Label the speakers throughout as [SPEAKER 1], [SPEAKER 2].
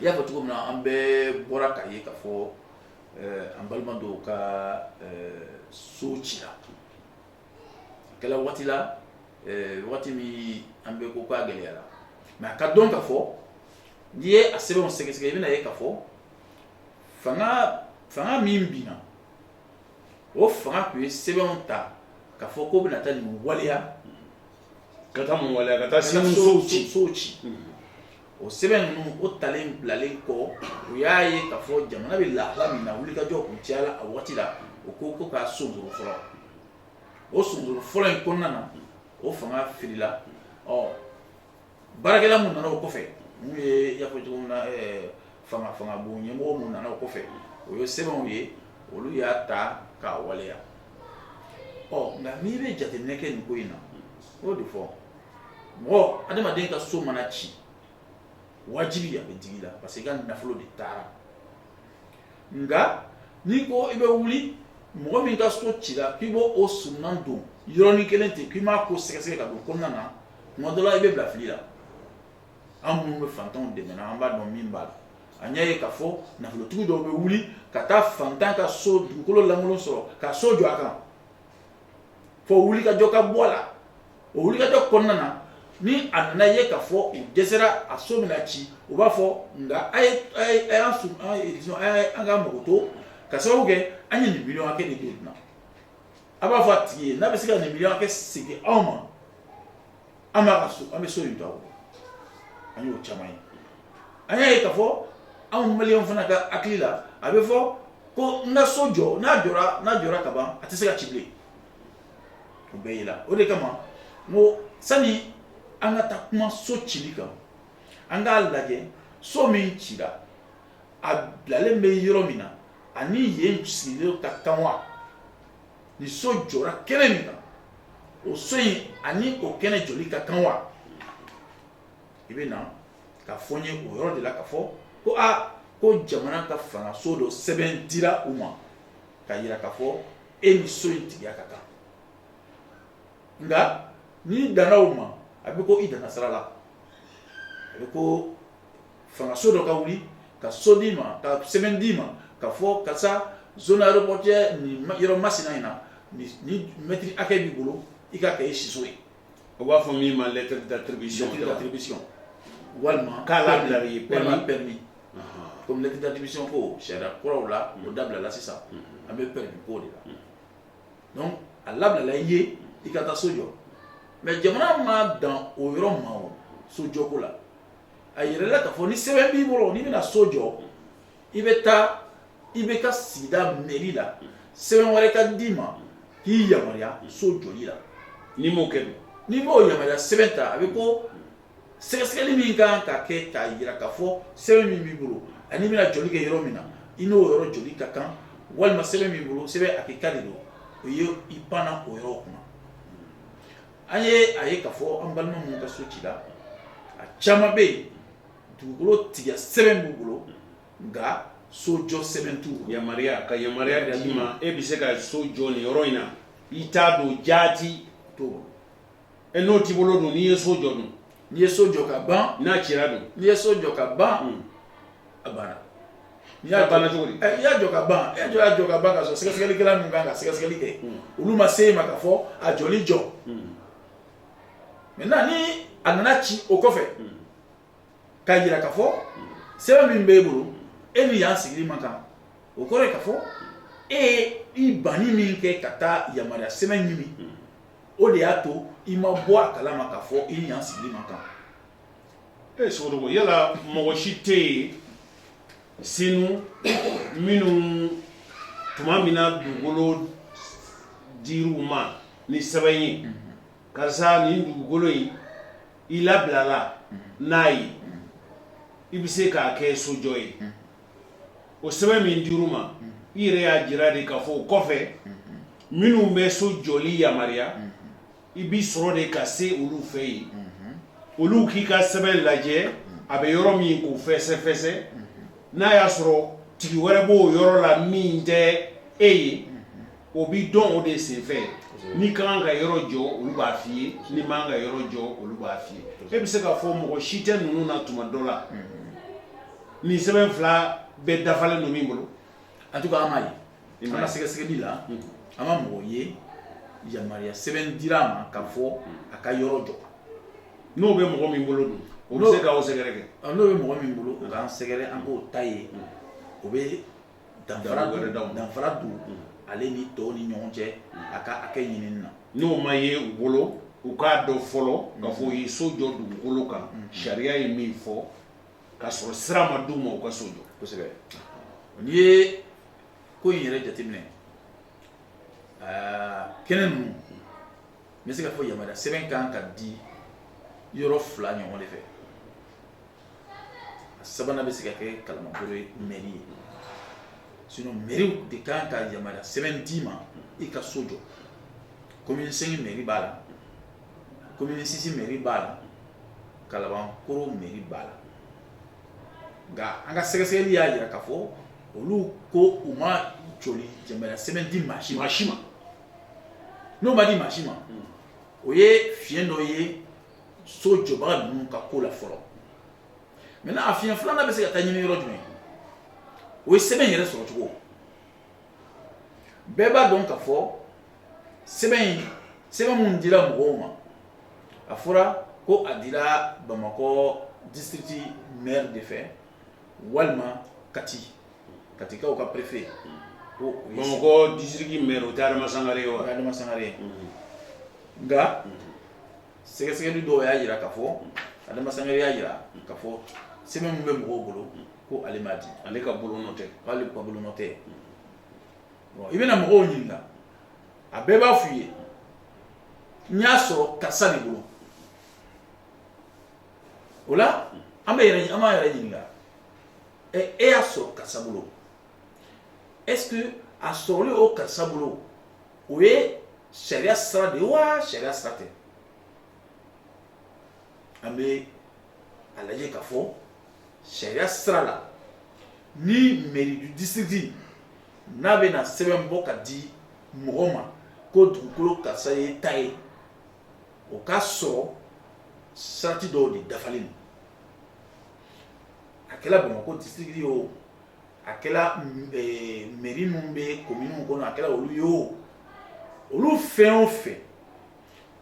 [SPEAKER 1] i y'a fɔ cogo min na an bɛɛ bɔra k'a ye ka fɔ eh, an balima dɔw ka eh, so cira a kɛla waati la eh, waati min an bɛ ko k'a gɛlɛyara mais a k'a dɔn ka fɔ n'i ye a sɛbɛnw sɛgɛsɛgɛ i bɛna ye ka fɔ fanga fanga min binna o fanga tun ye sɛbɛnw ta ka fɔ ko u bɛna taa nin waleya ka taa mun waleya ka taa ka taa so- so- sow ci sow ci o sɛbɛn ninnu o talen bilalen kɔ u y'a ye ka fɔ jamana bɛ lahala min na wulikajɔ tun cayala a waati la u ko ko k'a sonsoro fɔlɔ o sonsoro fɔlɔ in kɔnɔna na o fanga firila ɔ baarakɛla min nana o kɔfɛ n'o ye i y'a fɔ cogo min na fanga fanga bon ɲɛmɔgɔ min nana o kɔfɛ u y'o sɛbɛnw ye olu y'a ta k'a waleya ɔ nka n'i bɛ jateminɛ kɛ nin ko in na o de fɔ mɔgɔ adamaden ka so mana ci wajibi a bɛ digi i la parce que i ka nafolo de taara nka n'i ko i bɛ wuli mɔgɔ min ka so cila k'i b'o suman don yɔrɔnin kelen ten k'i m'a ko sɛgɛsɛgɛ ka don kɔnɔna na tuma dɔ la i bɛ bila fili la an minnu bɛ fantanw dɛmɛ na an b'a dɔn min b'a la an y'a ye k'a fɔ nafolotigi dɔw bɛ wuli ka taa fantan ka so dugukolo lankolon sɔrɔ ka so jɔ a kan fɔ wulikajɔ ka bɔ a la o wulikajɔ kɔnɔna na ni a nana ye k'a fɔ u dɛsɛra a so bɛna ci u b'a fɔ nka a ye a ye a y'an sun an ye disons a ye an ka mago to ka sababu kɛ an ye nin miliyɔn hakɛ de don nin na a b'a fɔ a tigi ye n'a bɛ se ka nin miliyɔn hakɛ segin anw ma an b'a ka so an bɛ so in to a bolo an y'o caman ye an y'a ye ka fɔ anw maliens fana ka hakili la a bɛ fɔ ko n ka so jɔ n'a jɔra n'a jɔra ka ban a tɛ se ka ci bilen o bɛɛ y'a la o de kama n ko sani an ka taa kuma so cili kan an k'a lajɛ so min cira a bilalen bɛ yɔrɔ min na a ni yen sigilen ka kan wa ni so jɔra kɛnɛ min kan o so in ani o kɛnɛ jɔli ka kan wa i bɛ na ka fɔ n ye o yɔrɔ de la ka fɔ ko a ko jamana ka fangaso dɔ sɛbɛn dira u ma ka yira ka fɔ e ni so in tigiya ka kan nka n'i danna o ma a bɛ ko i danna sira la a bɛ ko fangaso dɔ ka wuli ka so d'i ma ka sɛbɛn d'i ma ka fɔ karisa zone aéroportuaire nin yɔrɔ masina in na nin mɛtiri hakɛ b'i bolo i k'a kɛ i siso ye u b'a fɔ min ma lettre d'attribution lettre d'attribution walima k'a labila i ye walima permis comme lettre d'attribution ko sariya kuraw la o dabilala sisan an bɛ permis ko de la donc a labilala i ye i ka taa so jɔ mais jamana ma dan o yɔrɔ ma o so jɔko la a jirala k'a fɔ ni sɛbɛn b'i bolo n'i bɛna so jɔ i bɛ taa i bɛ taa sigida mɛri la sɛbɛn wɛrɛ ka d'i ma k'i yamaruya so jɔli la n'i m'o kɛ n'i m'o yamaruya sɛbɛn ta a bɛ ko sɛgɛsɛgɛli min kan ka kɛ k'a jira k'a fɔ sɛbɛn min b'i bolo ani i bɛna jɔli kɛ yɔrɔ min na i n'o yɔrɔ jɔli ka kan walima sɛbɛn min b'i bolo sɛbɛn lakika de don o ye i panna o yɔrɔ kunna An ye a ye ka fɔ an balima minnu ka so cila a caman bɛ yen dugukolo tigiya sɛbɛn b'u bolo nka sojɔ sɛbɛn t'u yamaruya ka yamaruya d'i ma e bɛ se ka so jɔ nin yɔrɔ in na i ta don jaati to e n'o t'i bolo dun n'i ye so jɔ dun N'i ye so jɔ ka ban n'a cira dun n'i ye so jɔ ka ban a banna n'i y'a ban cogo i y'a jɔ ka ban e jɔ' jɔ ka ban ka sɔrɔ sɛgɛsɛgɛli kɛra min kan ka sɛgɛsɛgɛli kɛ olu ma se i ma ka fɔ a jɔ jɔ mɛ na ni a nana ci o kɔfɛ ka jira ka fɔ sɛbɛn min b'i bolo e ni yan sigili man kan o kɔrɔ ka fɔ e i banni min kɛ ka taa yamaruya sɛbɛn ɲini o de y'a to i ma bɔ a kala ma ka fɔ i ni yan sigili man kan ee sogo yala mɔgɔ si tɛ yen senu minnu tuma min na dugukolo dir'u ma ni sɛbɛn ye mhm. karisa nin dugukolo in i labilala mhm. n'a ye i bɛ se k'a kɛ sojɔ ye mhm. o sɛbɛn min dir'u ma i yɛrɛ y'a jira de ka fɔ o kɔfɛ minnu bɛ so jɔli yamaruya i bɛ sɔrɔ de ka se olu fɛ yen olu k'i ka sɛbɛn lajɛ a bɛ yɔrɔ min k'o fɛsɛfɛsɛ n'a y'a sɔrɔ tigi wɛrɛ b'o yɔrɔ la min tɛ e ye o bɛ dɔn o de senfɛ n'i ka kan ka yɔrɔ jɔ olu b'a f'i ye n'i man kan ka yɔrɔ jɔ olu b'a f'i ye e bɛ se k'a fɔ mɔgɔ si tɛ ninnu na tuma dɔ la nin sɛbɛn fila bɛɛ dafalen don min bolo antuka an m'a ye an ka sɛgɛsɛgɛli la an ma mɔgɔ ye yamaruya sɛbɛn dira a ma ka fɔ a ka yɔrɔ jɔ n'o bɛ mɔgɔ min bolo don o bɛ se k'aw sɛgɛrɛ kɛ n'o bɛ mɔgɔ min bolo o k'an sɛgɛrɛ an k'o ta ye o bɛ danfara don danfara don ale ni tɔw ni ɲɔgɔn cɛ a ka hakɛ ɲinini na n'o ma ye u bolo u k'a dɔn fɔlɔ ka fɔ u ye so jɔ dugukolo kan sariya ye min fɔ ka sɔrɔ sira ma d'u ma u ka so jɔ kosɛbɛ n'i ye ko in yɛrɛ jateminɛ kɛnɛ ninnu n bɛ se ka fɔ yamaruya sɛbɛn kan ka di yɔrɔ fila ɲɔgɔn de fɛ a sabanan bɛ se ka kɛ kalabankɔrɔ ye mɛri ye sinon mɛriw de kan ka yamaruya sɛbɛn d'i ma i ka so jɔ komini sɛnki mɛri b'a la commune six mairie b'a la kalabankoro mairie b'a la nka an ka sɛgɛsɛgɛli y'a jira ka fɔ olu ko u ma jɔli jamana sɛbɛn di maa si ma si ma n'o ma di maa si ma o ye fiɲɛ dɔ ye so jɔbaga ninnu ka ko la fɔlɔ maintenant a fiɲɛ filanan bɛ se ka taa ɲini yɔrɔ jumɛn o ye sɛbɛn yɛrɛ sɔrɔ cogo bɛɛ b'a dɔn ka fɔ sɛbɛn in sɛbɛn minnu dira mɔgɔw ma a fɔra ko a dira bamakɔ district maire de fɛ walima kati katikaw ka perefe ko bamakɔ district maire o tɛ adama sangare ye wa adama sangare ye nka sɛgɛsɛgɛli dɔw y'a jira ka fɔ adama sangare y'a jira ka fɔ sɛbɛn min bɛ mɔgɔw bolo ko ale m'a di ale ka bolonɔ tɛ k'ale ka bolonɔ tɛ i bɛna mɔgɔw ɲininka a bɛɛ b'a f'i ye n y'a sɔrɔ karisa de bolo o la an bɛ yɛrɛ an b'an yɛrɛ ɲininka ɛ e y'a sɔrɔ karisa bolo est ce que a sɔrɔli o karisa bolo o ye sariya sira de ye wa sariya sira tɛ an bɛ a lajɛ ka fɔ sariya sira la ni mairie du district n'a bɛna sɛbɛn bɔ ka di mɔgɔ ma ko dugukolo karisa ye ta ye o k'a sɔrɔ sarati dɔw de dafalen don a kɛra bamakɔ district ye o a kɛra meri minnu bɛ kominiw kɔnɔ a kɛra olu ye o olu fɛn o fɛn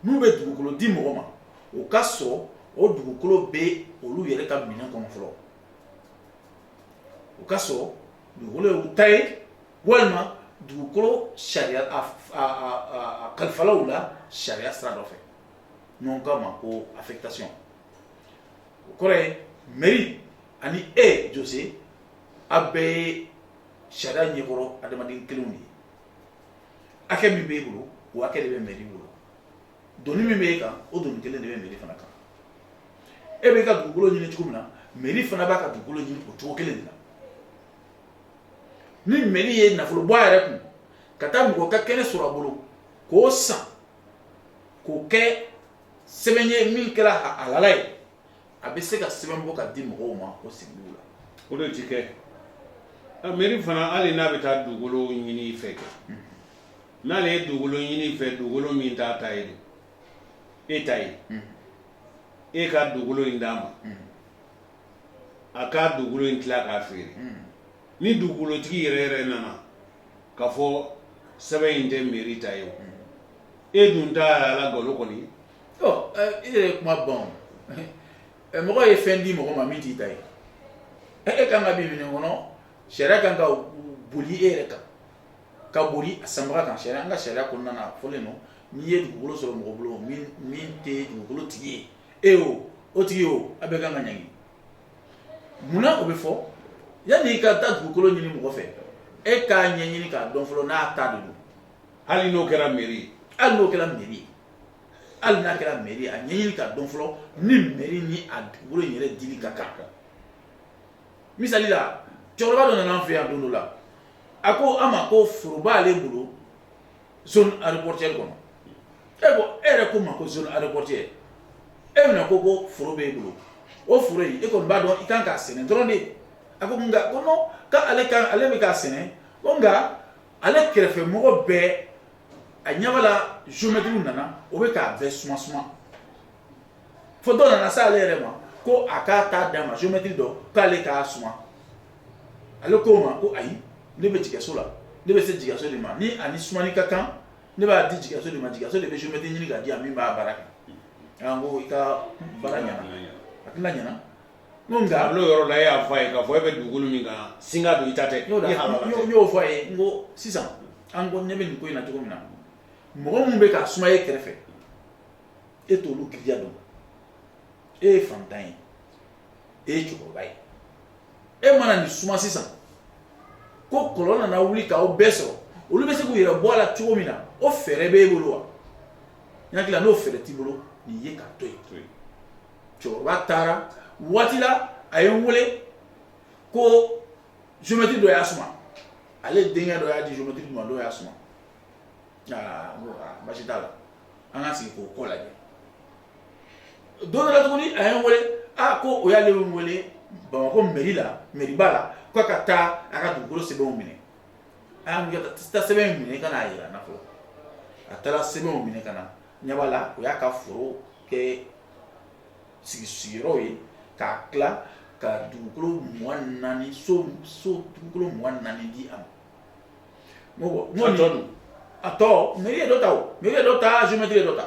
[SPEAKER 1] n'u bɛ dugukolo di mɔgɔ ma o k'a sɔrɔ o dugukolo bɛ olu yɛrɛ ka minɛn kɔnɔ fɔlɔ o k'a sɔrɔ dugukolo ye u ta ye walima dugukolo sariya kalifara u la sariya sira dɔ fɛ n'u k'a ma ko affectation o kɔrɔ ye mairie ani e Jose aw bɛɛ ye sariya ɲɛkɔrɔ adamaden kelenw de ye hakɛ min b'e bolo o hakɛ de bɛ mairie bolo doni min b'e kan o doni kelen de bɛ mairie fana kan e b'e ka dugukolo ɲini cogo min na mairie fana b'a ka dugukolo ɲini o cogo kelen de la ni mairie ye nafolo bɔ a yɛrɛ kun ka taa mɔgɔ ka kɛnɛ sɔrɔ a bolo k'o san k'o kɛ sɛbɛn ye min kɛra a halala ye a bɛ se ka sɛbɛn bɔ ka di mɔgɔw ma o sigi la o de tɛ kɛ mɛri fana hali n'a bɛ taa dugukolo ɲini i fɛ kɛ hmm. n'ale ye dugukolo ɲini i fɛ dugukolo min t'a ta ye e ta ye hmm. e ka dugukolo in d'a ma hmm. a k'a dugukolo in tila k'a feere ni dugukolotigi yɛrɛ yɛrɛ nana ka fɔ sɛbɛn in tɛ mɛri ta ye e dun ta ala golo kɔni e yɛrɛ kuma bawo mɔgɔ ye fɛn di mɔgɔ ma min t'i ta ye e e ka kan ka bin min kɔnɔ sariya kan ka boli e yɛrɛ kan ka boli a sanbaga kan an ka sariya kɔnɔna na fɔlen don n'i ye dugukolo sɔrɔ mɔgɔ bolo min tɛ dugukolo tigi ye e o o tigi o a bɛɛ ka kan ka ɲangi Munna o bɛ fɔ yani i ka taa dugukolo ɲini mɔgɔ fɛ e k'a ɲɛɲini k'a dɔn fɔlɔ n'a ta don hali n'o kɛra mɛri hali n'o kɛra mɛri hali n'a kɛra mɛri a ɲɛɲini ka dɔn fɔlɔ ni mɛri ni a dugukolo yɛrɛ dili ka kan kan misali la cɛkɔrɔba dɔ nana n fɛ yan don dɔ la a ko an ma ko foro b'ale bolo aéroportuaire kɔnɔ e e yɛrɛ ko ma ko zone aéroportuaire e bɛna ko ko foro bɛ e bolo o foro e kɔni b'a dɔn i kan k'a sɛnɛ dɔrɔn de a ko nka ko ale ale bɛ k'a sɛnɛ ko nka ale kɛrɛfɛ mɔgɔ bɛɛ a ɲamala zomɛtiriw nana o bɛ k'a bɛɛ suma suma fo dɔ nana se ale yɛrɛ ma ko a k'a ta d'a ma zomɛtiri dɔ k'ale k'a suma ale ko o ma ko ayi ne bɛ jigikaso la ne bɛ se jigikaso de ma ni ani sumani ka kan ne b'a di jigikaso de ma jigikaso de bɛ zomɛtiri ɲini ka di yan min b'a baara kɛ ko i ka baara ɲɛna a tɛna ɲɛna n'o nka a n'o yɔrɔ la e y'a fɔ a ye k'a fɔ e bɛ dugukolo min kan singa don i ta tɛ n'o n y'o fɔ a ye n ko sisan an ɲɛ bɛ nin ko in na cogo min na mɔgɔ minnu bɛ k'a suma e kɛrɛfɛ e t'olu girinya dɔn e ye fantan ye e ye cɛkɔrɔba ye e mana nin suma sisan ko kɔlɔn nana wuli k'aw bɛɛ sɔrɔ olu bɛ se k'u yɛrɛ bɔ a la cogo min na o fɛɛrɛ b'e bolo wa n hakili la n'o fɛɛrɛ t'i bolo nin ye k'a to yen cɛkɔrɔba taara waati la a ye n wele ko jomɛtiri dɔ y'a suma ale denkɛ dɔ y'a di jomɛtiri dɔ ma dɔ y'a suma aa n ko aa basi t'a la an ka sigi k'o kɔ lajɛ don dɔ la tuguni a ye n wele a ko u y'ale wele bamakɔ mɛri la mɛriba la k'a ka taa a ka dugukolo sɛbɛnw minɛ a y'a kɛ taa sɛbɛn in minɛ ka n'a yira n na fɔlɔ a taara sɛbɛnw minɛ ka na n ɲɛ b'a la o y'a ka foro kɛ sigi sigiyɔrɔw ye k'a tila ka dugukolo mugan naani so so dugukolo mugan naani di a ma n ko n ko nin a tɔ mɛri ye dɔ ta o mɛri ye dɔ ta géomètre ye dɔ ta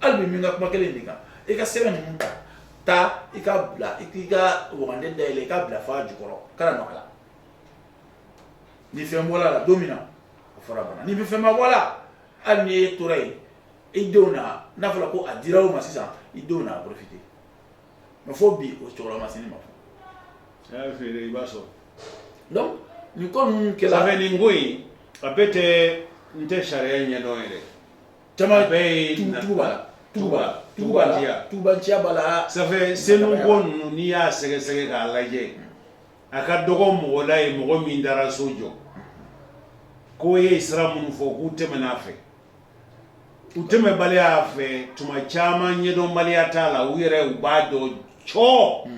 [SPEAKER 1] hali min ka kuma kelen de kan i ka sɛbɛn ninnu ta taa i ka bila i k'i ka waganden dayɛlɛ i k'a bila f'a jukɔrɔ kana nɔ a la ni fɛn bɔra a la don min na o fɔra bana ni fɛn ma bɔ a la hali n'i yɛrɛ tora yen i denw na n'a fɔra ko a dira o ma sisan i denw na a porofite mɛ fo bi o cɛkɔrɔba ma se ne ma fɔ a y'a feere i b'a sɔrɔ donc nin ko ninnu kɛra safɛ nin ko in a bɛɛ tɛ n tɛ sariya ɲɛdɔn yɛrɛ Jama bɛɛ yeuguba tuba tuya tubaciya b'a la safɛ nin ko ninnu n'i y'a sɛgɛsɛgɛ k'a lajɛ a ka dɔgɔ mɔgɔ la ye mɔgɔ min taara so jɔ k'u ye sira minnu fɔ k'u tɛm'a fɛ u tɛmɛbaliya a fɛ tuma caman ɲɛdɔnbaliya t'a la u yɛrɛ u b'a dɔn cɔ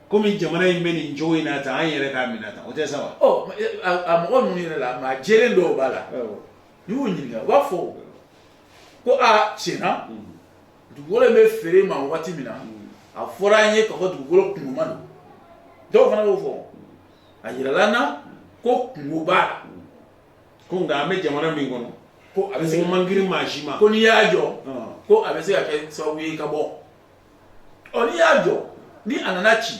[SPEAKER 1] kɔmi jamana in bɛ nin cogo in na tan an yɛrɛ k'a minɛ tan o tɛ saba mɔgɔ ninnu yɛrɛ la maa j dɔw b'a la y'u ɲininka u b'a fɔ ko a tiɲɛ na dugukolo in bɛ feere an ma waati min na a fɔra an ye k'a fɔ dugukolo kunkoma don dɔw fana b'o fɔ a yirala an na ko kunko b'a la ko nka an bɛ jamana min kɔnɔ ko a bɛ se man girin maa si ma ko n'i y'a jɔ ko a bɛ se ka kɛ sababu ye ka bɔ ɔ n'i y'a jɔ ni a nana ci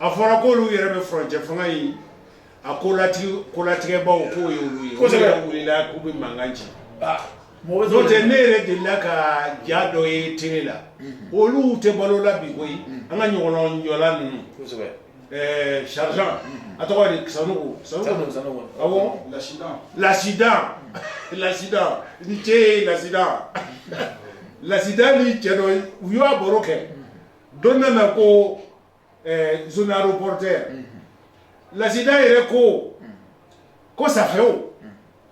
[SPEAKER 1] a fɔra ko olu yɛrɛ bɛ furancɛ fanga ye a ko kolatigɛbaaw k'o ye olu ye kosɛbɛ wulila k'u bɛ mankan ci n'o tɛ ne yɛrɛ delila ka ja dɔ ye télé la olu tɛ balo la bi koyi an ka ɲɔgɔlɔnbɔla ninnu kosɛbɛ ɛɛ sergent a tɔgɔ ye di Sanogo Sanogo Sanogo awɔ lasidan lasidan lasidan n cɛ ye lasidan lasidan ni cɛ dɔ u y'a baro kɛ don bɛ mɛn ko zone aéroportuaire lasidan yɛrɛ ko ko safɛ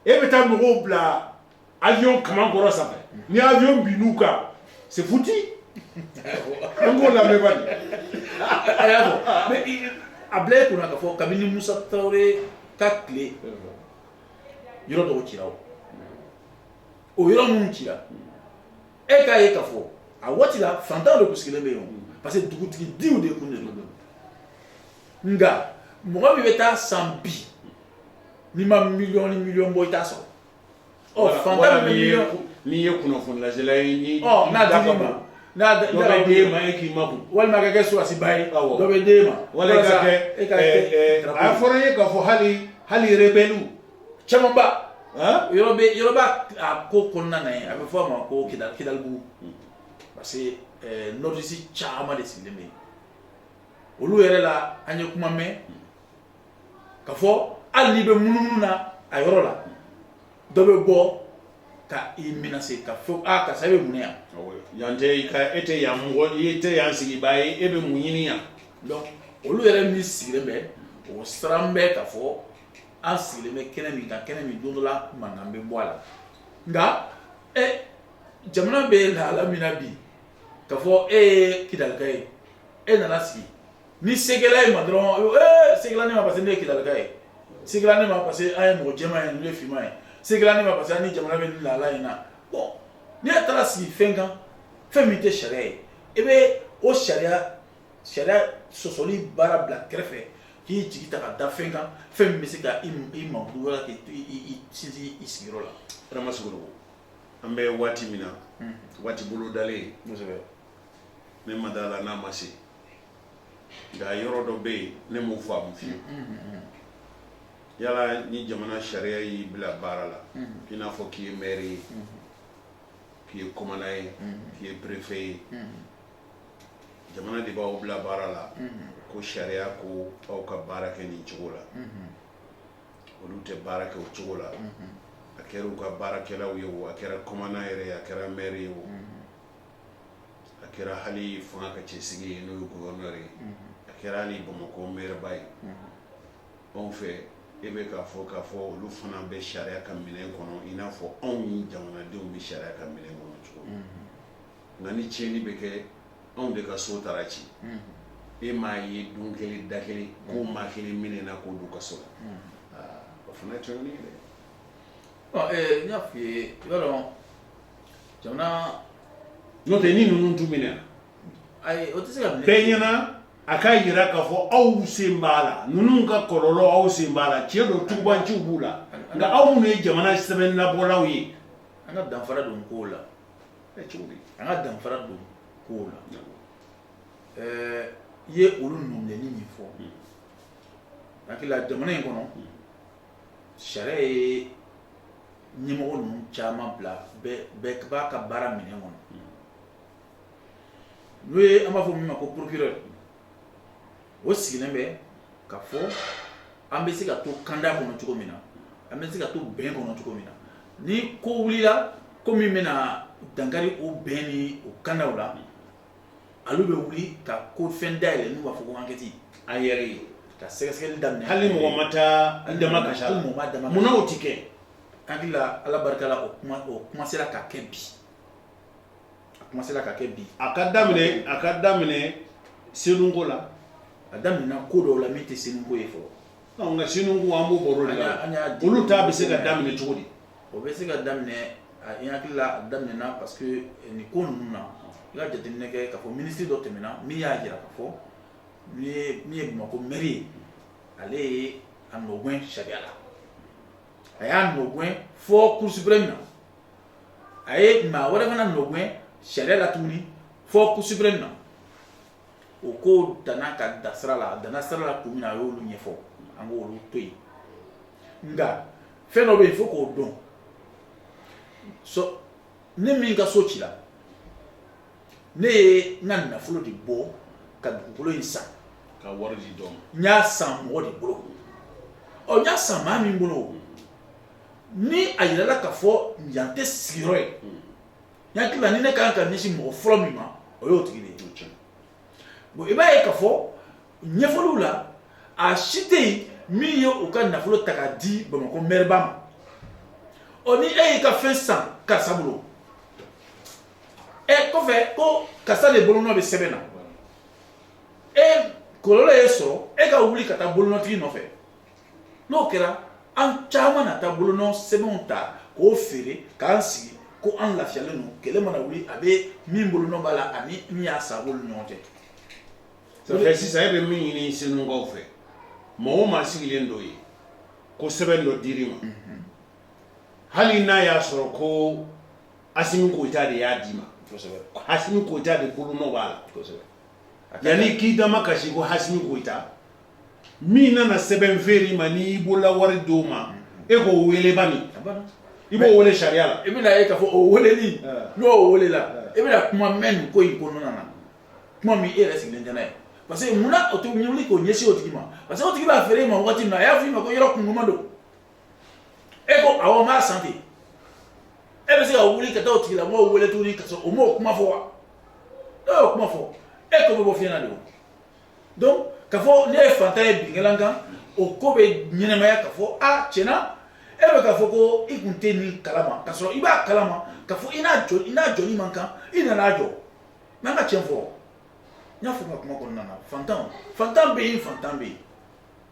[SPEAKER 1] e bɛ taa mɔgɔw bila awiyɔn kaman kɔrɔ safɛ ni awiyɔn binna u kan c'est foutu an k'o lamɛn bari a bila e kun na k'a fɔ kabini Musa Tarawele ka tile yɔrɔ dɔw cira o yɔrɔ minnu cira e k'a ye k'a fɔ a waati la faantan de tun sigilen bɛ yen parce que dugutigidenw de tun de don nka mɔgɔ min bɛ taa a san bi n'i ma miliyɔn ni miliyɔn bɔ i t'a sɔrɔ ɔ faantan bɛ miliyɔn n'i ye kunnafonilasela ye ni ɔ n'a d'i ma n'a dɔ bɛ d'e ma e k'i makun walima ka kɛ sɔrɔdasiba ye dɔ bɛ d'e ma walima ka kɛ e ka kɛ a fɔra n ye k'a fɔ hali hali rebɛliw camanba yɔrɔ bɛ yɔrɔ b'a a ko kɔnɔna na yen a bɛ fɔ a ma ko kida kidalibugu hmm. parce que eh, nordistes caman de sigilen bɛ yen olu yɛrɛ la an ye kuma mɛn hmm. ka fɔ hali n'i bɛ munumunu na a yɔrɔ la dɔ bɛ bɔ ka i menacer ka fɔ a karisa e bɛ mun yan yan tɛ i ka e tɛ yan mɔgɔ i tɛ yan sigibaa ye e bɛ mun ɲini yan donc olu yɛrɛ min sigilen bɛ o siran bɛ ka fɔ an sigilen bɛ kɛnɛ min kan kɛnɛ min don dɔ la mankan bɛ bɔ a la nka ɛ jamana bɛ lahala min na bi ka fɔ e ye kidalika ye e nana sigi ni se kɛla i ma dɔrɔn ee se kɛla ne ma parce que ne ye kidalika ye se kɛla ne ma parce que an ye mɔgɔ jɛman ye ninnu ye finman ye se kɛla ne ma parce que an ni jamana bɛ nin lahala in na bɔn n'i taara sigi fɛn kan fɛn min tɛ sariya ye i bɛ o sariya sariya sɔsɔli baara bila kɛrɛfɛ k'i jigi ta ka da fɛn kan fɛn min bɛ se ka i makun wala k'i to i sinsin i sigiyɔrɔ la. Adama Sogoloko an bɛ waati min na waati bolodalen kosɛbɛ ne ma d'a la n'a ma se nka yɔrɔ dɔ bɛ yen ne m'o faamu fiyewu yala ni jamana sariya y'i bila baara la i n'a fɔ k'i ye maire ye k'i ye commandant ye k'i ye préfet ye. jamana de b'aw bila baara la ko sariya ko aw ka baara kɛ nin cogo la olu tɛ baara kɛ o cogo la a kɛra u ka baarakɛlaw ye o a kɛra commandant yɛrɛ ye a kɛra maire ye o a kɛra hali fanga ka cɛsigi ye n'o ye gouverneur ye a kɛra hali bamakɔ maireba ye anw fɛ e b'a fɛ k'a fɔ olu fana bɛ sariya ka minɛn kɔnɔ i n'a fɔ anw jamanadenw bɛ sariya ka minɛn kɔnɔ cogo nka ni tiɲɛni bɛ kɛ anw de ka so taara ci e m'a ye don kelen da kelen ko maa kelen minɛna k'o don kaso la o fana ye tiɲɛni ye dɛ n y'a f'i ye i b'a dɔn jamana n'o tɛ ni ninnu tun minɛna ayi o tɛ se ka minɛ bɛɛ ɲɛna a k'a jira k'a fɔ aw sen b'a la ninnu ka kɔlɔlɔ aw sen b'a la tiɲɛ don tugubaanciw b'u la nka aw minnu ye jamana sɛbɛnnabɔlaw ye an ka danfara don kow la an ka danfara don ko la ɛɛ i ye olu nɔminɛni min fɔ hmm. n hakili la jamana in kɔnɔ hmm. sariya ye ɲɛmɔgɔ ninnu caman bila bɛɛ b'a ka baara minɛ kɔnɔ hmm. n'o ye an b'a fɔ min ma ko procureur o sigilen bɛ k'a fɔ an bɛ se ka to kanda kɔnɔ cogo min na an bɛ se ka to bɛn kɔnɔ cogo min na ni ko wulila ko min bɛna dangakari o bɛn ni o kandaw la olu bɛ wuli ka ko fɛn da yɛlɛ n'u b'a fɔ ko ankɛti an yɛrɛ ye ka sɛgɛsɛgɛli daminɛ hali mɔgɔ ma taa an dama ka hali mɔgɔ ma dama munna o tɛ kɛ n hakili la ala barika la o kuma o kuma sera ka kɛ bi a kuma sera ka kɛ bi a ka daminɛ a ka daminɛ senunko la a daminɛna ko dɔw la min tɛ senunko ye fɔlɔ nka senunko an b'o baro de la olu ta bɛ se ka daminɛ cogo di o bɛ se ka daminɛ a n hakili la a daminɛna parce que eh, nin ko ninnu na i ka jateminɛ kɛ k'a fɔ minisiri dɔ tɛmɛna min y'a jira k'a fɔ min ye min ye bamakɔ mɛri ye ale ye a nɔgɛn sariya la a y'a nɔgɛn fo cour suprême na a ye maa wɛrɛ fana nɔgɛn sariya la tuguni fo cour suprême na o ko danana ka da sira la a dana sira la kun min a y'olu ɲɛfɔ an ko olu to yen nka fɛn dɔ bɛ yen fo k'o dɔn so ne min ka so cila ne ye n ka nafolo de bɔ ka dugukolo in san n ka wari de don n y'a san mɔgɔ de bolo ɔ n y'a san maa min bolo ni a jirala k'a fɔ yan tɛ sigiyɔrɔ ye n hakili la ne ka kan ka ɲɛsin mɔgɔ fɔlɔ min ma o y'o tigi de ye bon i b'a ye k'a fɔ ɲɛfɔliw la a si tɛ yen min ye u ka nafolo ta k'a di bamakɔ mɛriba ma ɔ ni e y'i ka fɛn san karisa bolo ɛ e, kɔfɛ ko karisa de bolonɔ bɛ sɛbɛn na e kɔlɔlɔ y'e sɔrɔ e ka wuli ka taa bolonɔtigi nɔfɛ n'o kɛra an caman na taa bolonɔ sɛbɛnw ta k'o feere k'an sigi ko an lafiyalen don kɛlɛ mana wuli a bɛ min bolonɔ b'a la ani min y'a san b'olu ɲɔgɔn cɛ safɛ sisan e bɛ min ɲini senukaw fɛ mɔgɔ o maa sigilen dɔ ye ko sɛbɛn dɔ dir'i ma mhm. hali n'a y'a sɔrɔ ko asimi koyita de y'a d'i ma hasimi koyita de bolonɔ b'a la yanni k'i dama kasi ko hasimi koyita min nana sɛbɛn feere i ma n'i y'i bolola wari d'o ma e ko weeleba min i b'o weele sariya la i bɛna e ka fɔ o weeleli n'o weelela e bɛna kuma mɛn nin ko in ko na kuma min e yɛrɛ sigilen tɛ ye parce que munna u tɛ wuli k'u ɲɛsin o tigi ma parce que o tigi b'a feere e ma waati min a y'a fɔ i ma ko yɔrɔ kunma don e ko aw ma san ten e bɛ se ka wuli ka taa o tigi la m'o weele tuguni ka o m'o kuma fɔ wa e y'o kuma fɔ e ko bɛ bɔ fiɲɛ na de donc ka fɔ ne ye fantan ye bin kɛla n kan o ko bɛ ɲɛnɛmaya ka fɔ a tiɲɛna e bɛ ka fɔ ko i tun tɛ nin kalama ka sɔrɔ i b'a kalama ka fɔ i n'a jɔ i n'a jɔli man kan i nana jɔ n'an ka tiɲɛ fɔ n y'a fɔ n ka kuma kɔnɔna na fantan fantan bɛ yen fantan bɛ yen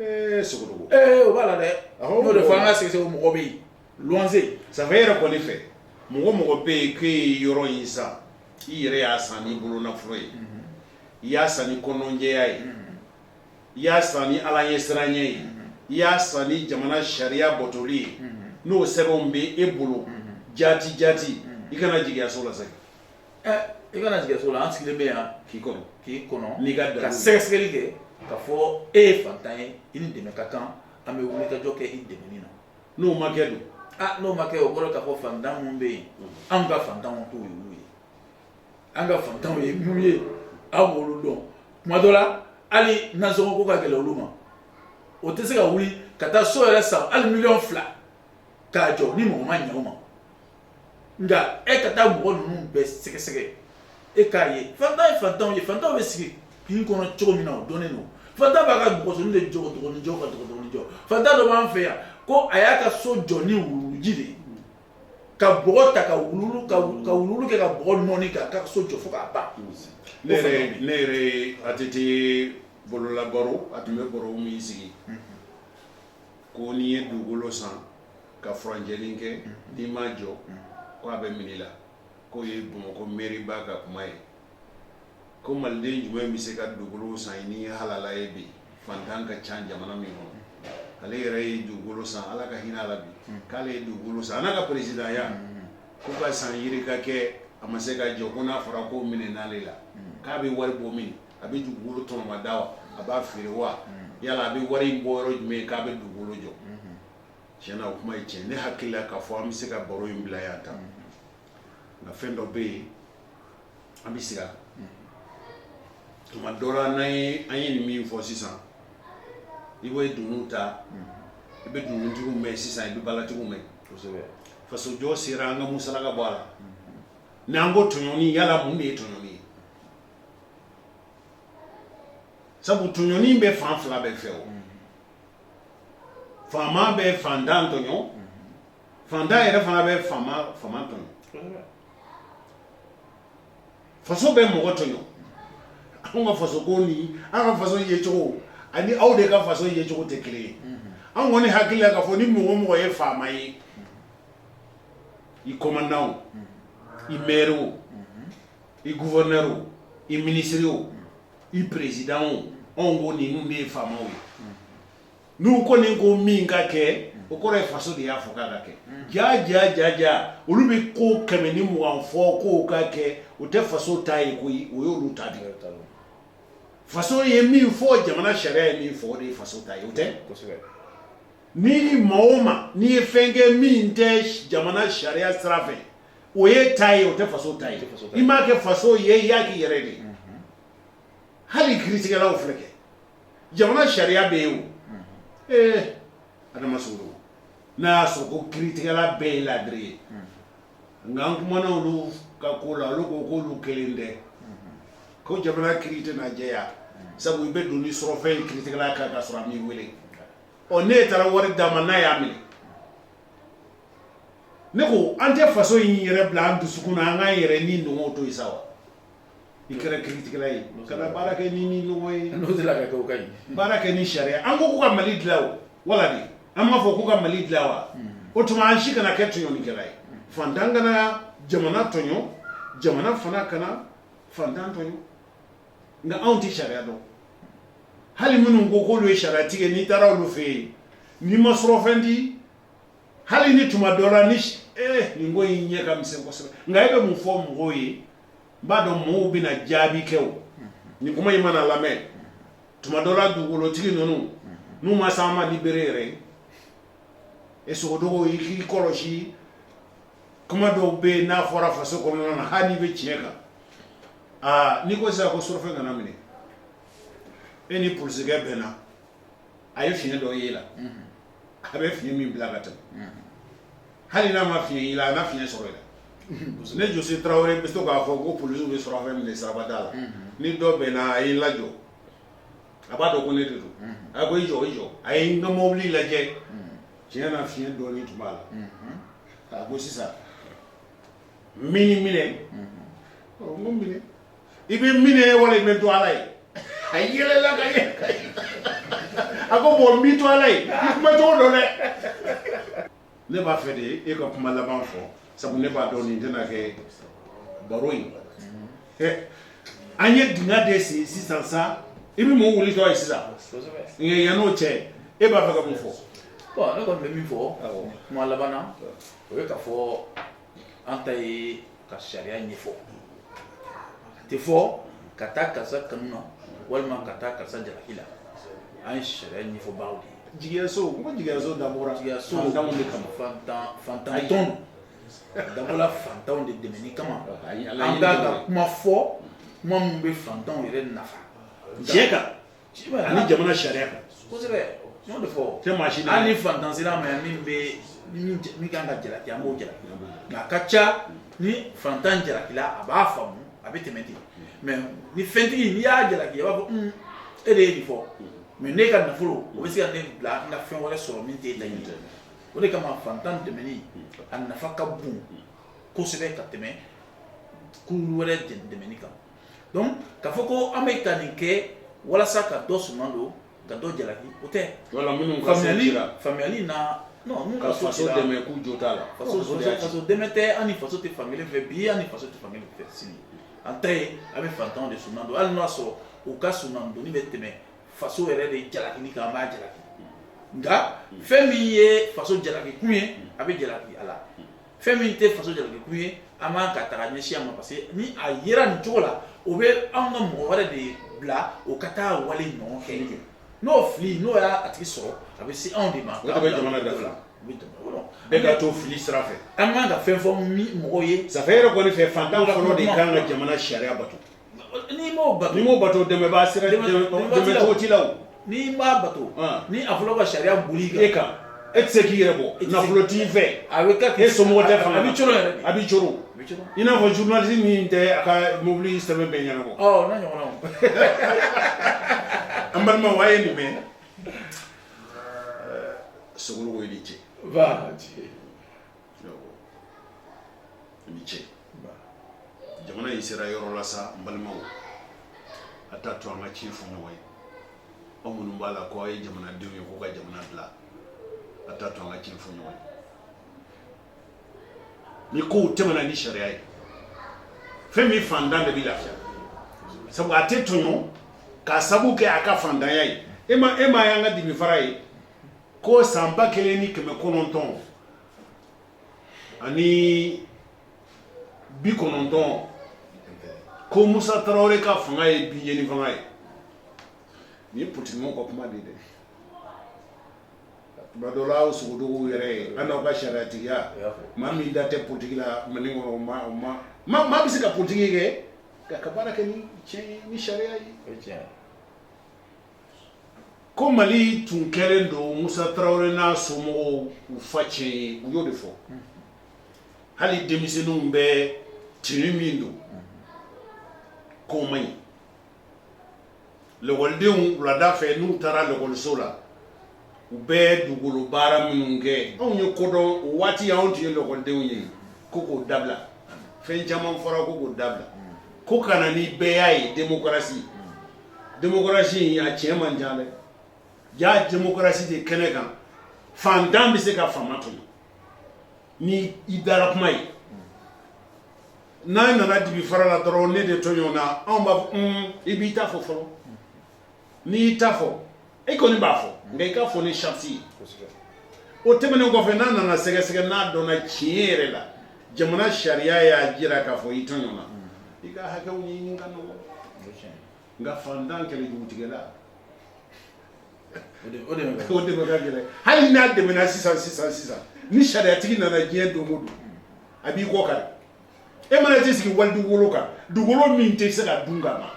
[SPEAKER 1] Ee sogo ee o b'a la dɛ o de fɔ an ka sɛgɛsɛgɛ mɔgɔ bɛ yen se san yɛrɛ kɔni fɛ mɔgɔ mɔgɔ bɛ yen k'e ye yɔrɔ in san i yɛrɛ y'a san ni bolo nafolo ye i y'a san ni kɔnɔnjɛya ye i y'a san ni ala ɲɛsiranya ye i y'a san ni jamana sariya batoli ye n'o sɛbɛnw bɛ e bolo jati jati i kana jigin i ka so la I kana siga kɛ a la an sigilen bɛ yan k'i kɔnɔ k'i kɔnɔ i ka ka sɛgɛsɛgɛli kɛ ka fɔ e ye fantan ye i ni dɛmɛ ka kan an bɛ wulikajɔ kɛ i dɛmɛni na n'o ma kɛ dun n'o ma kɛ o bɔra ka fɔ fantan minnu bɛ yen an ka fantanw ko ye an ka fantanw ye minnu ye aw b'olu dɔn tuma dɔ la hali nasɔngɔ ko ka gɛlɛ olu ma u tɛ se ka wuli ka taa so yɛrɛ san hali miliyɔn fila k'a jɔ ni mɔgɔ ma ɲɛ u ma nka e ka taa mɔgɔ ninnu bɛɛ sɛgɛsɛgɛ e k'a ye fantan ye fantanw ye fantanw bɛ sigi kin kɔnɔ cogo min na o dɔnnen don fantan b'a ka bɔgɔsonin de jɔ dɔgɔnin jɔ ka dɔgɔnin jɔ fantan dɔ b'an fɛ yan ko a y'a ka so jɔ ni wuluwuluji de ye ka bɔgɔ ta ka wuluwulu ka wuluwulu kɛ ka bɔgɔ nɔɔni k'a ka so jɔ fo k'a ban ne yɛrɛ ne yɛrɛ ATT bololabaro a tun bɛ baro min sigi ko n'i ye dugukolo san ka furancɛnin kɛ n'i m'a jɔ ko a bɛ minɛ i la k'o ye bamakɔ mɛriba ka kuma ye ko maliden jumɛn in bɛ se ka dugukolo san ni halala ye bi fantan ka ca jamana min kɔnɔ ale yɛrɛ ye dugukolo san ala ka hinɛ a la bi k'ale ye dugukolo san a n'a ka peresidanya ko ka san yirika kɛ a ma se k'a jɔ ko n'a fɔra k'o minɛna ale la k'a bɛ wari bɔ min a bɛ dugukolo tɔnɔmada a b'a feere wa yala a bɛ wari in bɔ yɔrɔ jumɛn ye k'a bɛ dugukolo jɔ Tiɲɛ na o kuma ye tiɲɛ ye. Ne hakili la ka fɔ an bɛ se ka baro in bila yan tan. Nka fɛn dɔ bɛ yen an bɛ segin a kan. Tuma dɔ la n'an ye an ye nin min fɔ sisan i bɛ dunun ta i bɛ dununtigiw mɛn sisan i bɛ balatigiw mɛn. Kosɛbɛ! Fasojɔ sira an ka musalaka bɔ a la. Ni an ko tɔɲɔni yala mun de ye tɔɲɔni ye? Sabu tɔɲɔni bɛ fan fila bɛɛ fɛ o. faama bɛ fantan tɔɲɔ fantan yɛrɛ fana bɛ faama faama tɔɲɔ kosɛbɛ faso bɛ mɔgɔ tɔɲɔ anw ka faso kɔni an ka faso yecogo ani aw de ka faso yecogo tɛ kelen ye an kɔni hakili la k'a fɔ ni mɔgɔ o mɔgɔ ye faama ye i kɔmandan o i mɛri o i guvɛrnɛri o i minisiri o i président o anw ko ninnu de ye faamaw ye n'u kɔni ko min ka kɛ o kɔrɔ ye faso de y'a fɔ k'a ka kɛ ja ja ja ja olu bɛ ko kɛmɛ ni mugan fɔ k'o ka kɛ o tɛ faso ta ye koyi o y'olu ta de ye faso ye min fɔ jamana sariya ye min fɔ o de ye faso ta ye o tɛ ni maa o maa n'i ye fɛn kɛ min tɛ jamana sariya sira fɛ o y'i ta ye o tɛ faso ta ye i m'a kɛ faso ye i y'a k'i yɛrɛ de ye hali kiiritigɛlaw filɛ kɛ jamana sariya bɛ yen o ee adama sogodogo n'a y'a sɔrɔ ko kiiritigɛla bɛɛ ye laadiri ye nka an kumana olu ka ko la olu ko k'olu kelen tɛ ko jamana kiiri tɛna jɛya sabu i bɛ don ni surɔfɛn ye kiiritigɛla kan k'a sɔrɔ a m'i wele ɔ n'e taara wari d'a ma n'a y'a minɛ ne ko an tɛ faso in yɛrɛ bila an dusukun na an k'an yɛrɛ nidungɔw to yen sa wa i kɛra kiritigɛla ye kana baara kɛ ni nidungɔ ye n'o tɛ la ka kɛ o ka ɲi baara kɛ ni sariya an ko k'u ka mali dilan o wala de an m'a fɔ k'u ka mali dilan wa o tuma an si kana kɛ tɔɲɔlikɛla ye fantan kana jamana tɔɲɔ jamana fana kana fantan tɔɲɔ nka anw tɛ sariya dɔn hali minnu ko k'olu ye sariyatigi ye n'i taara olu fɛ yen n'i ma surɔfɛn di hali ni tuma dɔ la ni eh, nin ko in ɲɛ ka misɛn kosɛbɛ nka e bɛ mun fɔ mɔgɔw ye n b'a dɔn mɔgɔw bɛna jaabi kɛ o nin kuma in mana lamɛn tuma dɔ la dugukolotigi ninnu n'u ma s'an ma ni bere yɛrɛ ye e sogodogo i k'i kɔlɔsi kuma dɔw bɛ yen n'a fɔra faso kɔnɔna na hali n'i bɛ tiɲɛ kan aa n'i ko sisan ko surɔfɛn kana minɛ e ni polisikɛ bɛ na a ye fiɲɛ dɔ y'i la a bɛ fiɲɛ min bila ka tɛmɛ hali n'a ma fiɲɛ y'i la a fiɲɛ sɔrɔ i la ne jɔsi tarawele bɛ to k'a fɔ ko polisiw bɛ surɔfɛn minɛ siraba da la ni dɔ bɛ na a y'i lajɔ a b'a dɔn ko ne de don a ko i jɔ i jɔ a ye n ka mobili lajɛ Tiɲɛ na fiɲɛ dɔɔnin tun b'a la a ko sisan ne y'i minɛ i bɛ n minɛ wala i bɛ n to ala ye a yɛlɛla ka a ko bon n b'i to ala ye i kumacogo dɔn dɛ ne b'a fɛ de e ka kuma laban fɔ sabu ne b'a dɔn nin tɛna kɛ baro in an ye duniya de sigi sisan sa i bɛ mun wuli ye sisan yan n'o cɛ e b'a fɛ ka mun fɔ ne kɔni bɛ min fɔ kuma laban na o ye k'a fɔ an ta ye ka sariya ɲɛfɔ an t'a fɔ ka taa karisa kanu na walima ka taa karisa jalaki la an ye sariya ɲɛfɔbaaw de ye jigiyaso ko jigiyaso da jigiyaso da de kama fantan dabɔla fantanw de dɛmɛni kama an ka ka kuma fɔ kuma minnu bɛ fantanw yɛrɛ nafa diɲɛ kan ani jamana sariya kan kosɛbɛ n'o de fɔ tɛ maa si hali ni fantan sera ma yan min bɛ min kan ka jalaki an b'o jalaki nka a ka ca ni fantan jalakila a b'a faamu a bɛ tɛmɛ ten mais ni fɛntigi n'i y'a jalaki a b'a fɔ hmm, e de ye nin fɔ mais ne ka nafolo o bɛ se ka ne bila n ka fɛn wɛrɛ sɔrɔ min tɛ laɲini o de kama fantan dɛmɛni a nafa ka bon kosɛbɛ ka tɛmɛ kun wɛrɛ dɛmɛni kan donc k'a fɔ ko an bɛ ka nin kɛ walasa ka dɔ suman don ka dɔ jalaki o tɛ dɛmɛ tɛ an faso tɛ fankelen fɛ bi an faso tɛ fankelen fɛ sini an ta a bɛ fantanw de suman don hali y'a sɔrɔ u ka suman don bɛ tɛmɛ faso yɛrɛ de jalaki ni kan b'a jalaki nka fɛn min ye faso jalaki kun ye a bɛ jalaki a la fɛn min tɛ faso jalaki kun ye an b'an ka taga ɲɛsin a ma parce que ni a yera nin cogo la o bɛ an ka mɔgɔ wɛrɛ de bila o ka taa wale ɲɔgɔn kɛ ye n'o fili n'o y'a tigi sɔrɔ a bɛ se anw de ma o bɛ jamana da fila bɛɛ ka to fili sira fɛ an ka kan ka fɛn fɔ mɔgɔ ye safɛ yɛrɛ kɔni fɛ fantan fɔlɔ de kan ka jamana sariya bato N'i m'o bato, n'i m'o bato dɛmɛbaa sera, dɛmɛcogo t'i la wo, n'i m'a bato, an, ni a fɔra ko ka sariya boli i kan, e tɛ se k'i yɛrɛ bɔ, nafolo t'i fɛ, a bɛ kɛ, e somɔgɔ tɛ fanga na, a bɛ coolo yɛrɛ de, a bɛ coolo, i n'a fɔ journaliste min tɛ a ka mobili sɛbɛn bɛɛ ɲɛnabɔ, ɔ o n'a ɲɔgɔnnaw, an balimaw a ye nin mɛn, ɛɛ Sogoloko i ni ce, nba a ni ce ni ce jamana in sera yɔrɔ la sa n balimaw a t'a to an ka tiɲɛ fɔ ɲɔgɔn ye aw minnu b'a la ko aw ye jamanadenw ye k'u ka jamana dilan a t'a to an ka tiɲɛ fɔ ɲɔgɔn ye ni kow tɛmɛna ni sariya ye fan min fantan de bɛ lafiya sabu a tɛ tɔɲɔ k'a sabu kɛ a ka fantanya ye e ma e ma y'an ka dimifara ye ko san ba kelen ni kɛmɛ kɔnɔntɔn ani bi kɔnɔntɔn ko musa tarawele ka fanga ye bi ɲɛni fanga ye nin ye pɔlitigimaaw ka kuma de dɛ tuma dɔ la aw sogodogow yɛrɛ ye an n'aw ka sariyatigiya maa min da tɛ pɔlitigi la mali kɔnɔ o ma o ma maa maa bɛ se ka pɔlitigi kɛ k'a ka baara kɛ ni tiɲɛ ye ni sariya ye Ko mali tun kɛlen don musa tarawele n'a somɔgɔw u facɛn ye u y'o de fɔ hali denmisɛnninw bɛ tenue min don k'o man ɲi lakɔlidenw wulada fɛ n'u taara lakɔliso la u bɛ dugukolo baara minnu kɛ anw ye ko dɔn o waati anw tun ye lakɔlidenw ye ko k'o dabila fɛn caman fɔra ko k'o dabila ko ka na ni bɛɛya ye démocratie démocratie a cɛ man jan dɛ jaa démocratie de kɛnɛ kan fantan bɛ se ka faama tɔɲɔ ni i dalakuma ye n'a nana dibi farala dɔrɔn ne de tɔɲɔna an b'i i b'i ta fɔ fɔlɔ n'i y'i ta fɔ e kɔni b'a fɔ nka i k'a fɔ ni sarati ye o tɛmɛnen kɔfɛ n'a nana sɛgɛsɛgɛ n'a dɔnna tiɲɛ yɛrɛ la jamana sariya y'a jira k'a fɔ i tɔɲɔna i ka hakɛ ɲinini ka nɔgɔn nka fantan kɛlɛ jugutigɛ la o dɛmɛ ka gɛlɛn hali n'a dɛmɛna sisan sisan sisan ni sariyatigi nana diɲɛ don o don a b'i kɔ kari e mana t'i sigi wali dugukolo kan dugukolo min tɛ se ka dun ka ban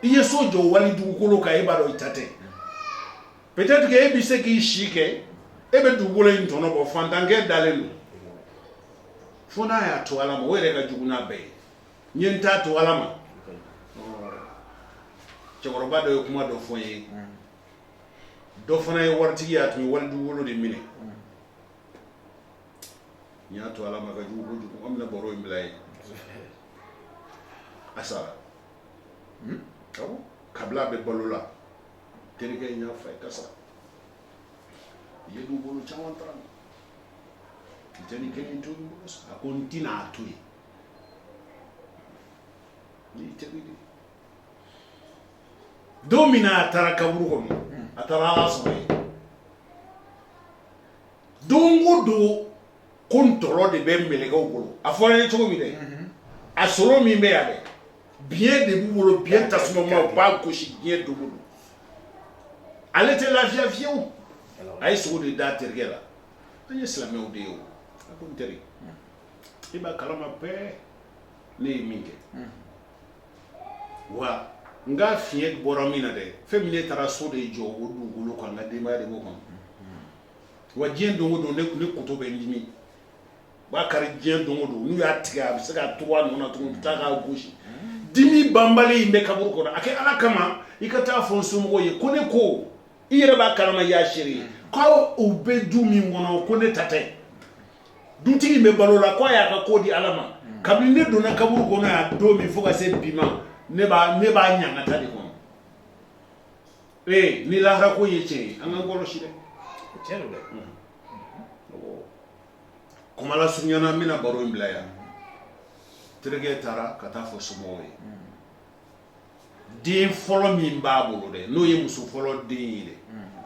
[SPEAKER 1] i ye so jɔ wali dugukolo kan e b'a dɔn i ta tɛ peut-être que e bɛ se k'i si kɛ e bɛ dugukolo in tɔnɔ bɔ fantankɛ dalen don fo n'a y'a to ala ma o yɛrɛ ka jugu n'a bɛɛ ye n ye n ta to ala ma cɛkɔrɔba dɔ ye kuma dɔ fɔ n ye dɔ fana ye waritigi ye a tun ye wali dugukolo de minɛ n y'a to ala ma ka jugu kojugu an bɛna baro in bila yen a sara hmm? kabini a bɛ balo la terikɛ in y'a fɔ a ye ka sabali i ye dugukolo caman ta ala ma i tɛ nin kelen to n bolo a ko n tɛna a to yen n'i tɛbi de don min na a taara kaburu kɔnɔ a taara ala sɔrɔ yen Don o don ko ntɔɔrɔ de bɛ mɛlɛkɛw bolo a fɔra ye cogo min dɛ a sɔrɔ min bɛ yan dɛ biɲɛ de b'u bolo biɲɛ tasuma b'a gosi diɲɛ don o don ale tɛ lafiya fiyewu a ye sugo de da terikɛ la an ye silamɛw de ye teri i b'a kalama bɛɛ ne ye min kɛ wa n ka fiɲɛ bɔra min na dɛ fɛn min ne taara so de jɔ o dugukolo kan n ka denbaya de b'a kan wa diɲɛ don o don ne tun ne kolo bɛ dimi b'a kari diɲɛ don o don n'u y'a tigɛ a bɛ se ka to nana tun bɛ taa k'a gosi dimi banbali in bɛ kaburu kɔnɔ a kɛ ala kama i ka t'a fɔ n somɔgɔw ye ko ne ko i yɛrɛ b'a kalama y'a seere ye k'u bɛ du min kɔnɔ ko ne ta tɛ dutigi bɛ balo la k'a y'a ka ko di ala ma kabini ne donna kaburu kɔnɔ yan don min fo ka se bi ma ne b'a ɲangata de kɔnɔ ee ni lahara ko ye tiɲɛ ye an k'an kɔlɔsi dɛ tiɲɛ don dɛ kuma lasurunya na n bɛna baro in bila yan terikɛ taara ka taa fɔ somɔgɔw ye den fɔlɔ min b'a bolo dɛ n'o ye muso fɔlɔ den ye dɛ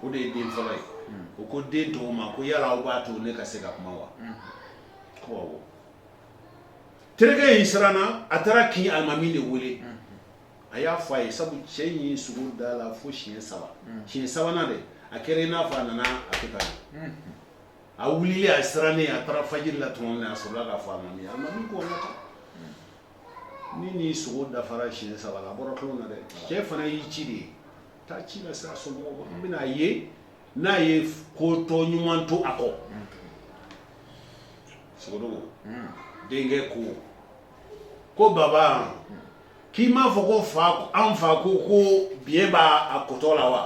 [SPEAKER 1] o de ye den fɔlɔ ye o ko den tɔw ma ko yala aw b'a to ne ka se ka kuma wa ko awɔ terikɛ in siranna a taara kin alimami de wele a y'a fɔ a ye sabu cɛ in ye sugo da la fo siɲɛ saba siɲɛ sabanan de a kɛra in n'a fɔ a nana a kɛ ka ye a wulila a sirannen a taara fajiri la tuma min a sɔrɔ k'a fɔ a ma min a ma min ko ni ni sugo dafara siɲɛ saba a bɔra tulon na dɛ cɛ fana y'i ci de ye taa ci lase a so n bɛna a ye n'a ye kotɔ ɲuman to a kɔ sogo denkɛ ko ko baba K'i m'a fɔ ko fa an fa ko ko bi b'a a kotɔ la wa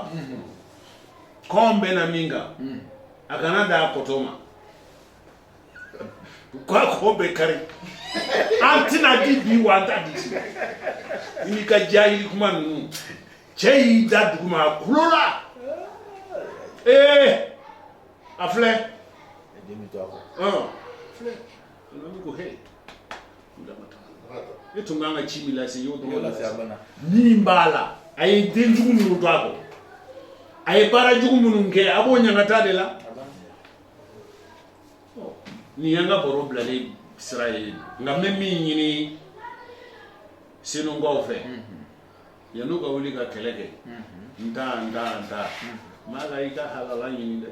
[SPEAKER 1] ko n bɛ na min kan a kana da a kotɔ ma ga ko bɛ kari an tɛna di bi wa an ta di i ka diya yi kuma ninnu cɛ y'i da dugu ma a kulola ee a filɛ a e tun kan ka ci min lase y'o dɔrɔn lase a bana min b'a la a ye den jugu minnu to a kɔ a ye baara jugu minnu kɛ a b'o ɲangata de la nin y'an ka baro bilalen sira ye nka n bɛ min ɲini senunkaw fɛ Yann'u ka wuli ka kɛlɛ kɛ n ta n ta n ta n b'a la i ka halala ɲini dɛ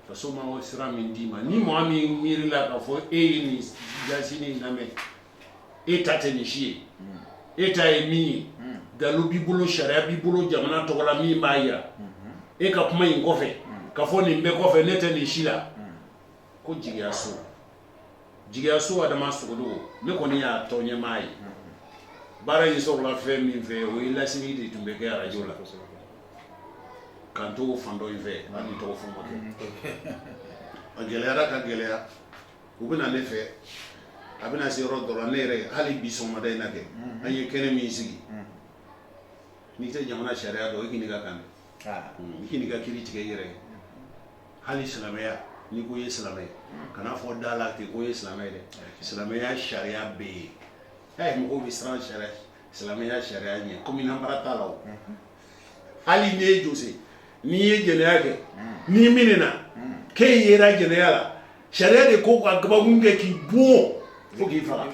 [SPEAKER 1] faso ma o sira min d'i ma ni mɔgɔ min miirila k'a fɔ e ye nin jasi ni lamɛn e ta tɛ nin si ye e ta ye min ye dalu b'i bolo sariya b'i bolo jamana tɔgɔ la min b'a jira e ka kuma in kɔfɛ k'a fɔ nin bɛɛ kɔfɛ ne tɛ nin si la ko jigiyaso jigiyaso adama sogodogo ne kɔni y'a tɔn ɲɛmaa ye baara in sɔrɔla fɛn min fɛ o ye laseli de tun bɛ kɛ arajo la k'an to fan dɔ in fɛ an ni tɔgɔ fɔ ma kɛ a gɛlɛyara ka gɛlɛya u bɛ na ne fɛ a bɛna se yɔrɔ dɔ la ne yɛrɛ hali bi sɔgɔmada in na kɛ an ye kɛnɛ min sigi n'i tɛ jamana sariya dɔn o ɲininka kan dɛ k'i ka kiri tigɛ i yɛrɛ hali silamɛya n'i ko i ye silamɛ ye kan'a fɔ da la ten ko i ye silamɛ ye dɛ silamɛya sariya bɛ yen ɛ mɔgɔw bɛ siran sariya silamɛya sariya ɲɛ kɔmi nanbara t'a la o hali n'i ye jose n'i ye jɛnɛya kɛ n'i minɛna k'e yera jɛnɛya la sariya de ko ka gabakun kɛ k'i bon fo k'i faga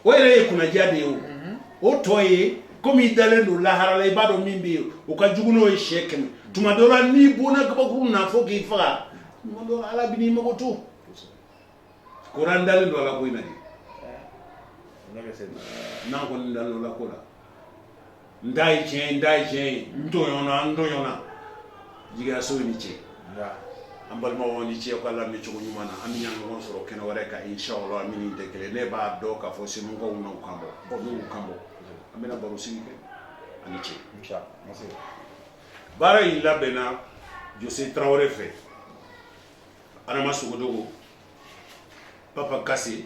[SPEAKER 1] o yɛrɛ ye kunnaja de ye o mhm. o tɔ ye komi i dalen don lahara la i b'a dɔn min bɛ yen o ka jugu n'o ye siɲɛ kɛmɛ tuma dɔ la n'i bonna gabakurun na fo k'i faga tuma dɔ ala bɛn'i makoto ko n'an dalen don ala ko in na de n'an kɔni dalen don ala ko la N da ye tiɲɛ n da ye tiɲɛ ye n tɔɔn na n tɔɔn na jigiyaso i ni ce an balimaw aw ni ce k'a lamɛn cogo ɲuman na an bɛ ɲɔgɔn sɔrɔ kɛnɛ wɛrɛ kan insala min tɛ kelen ne b'a dɔn k'a fɔ segukaw na kan bɔ n kan bɔ an bɛna baro sigi kɛ aw ni ce baara in labɛnna jose tarawele fɛ adama sogodogo papa kase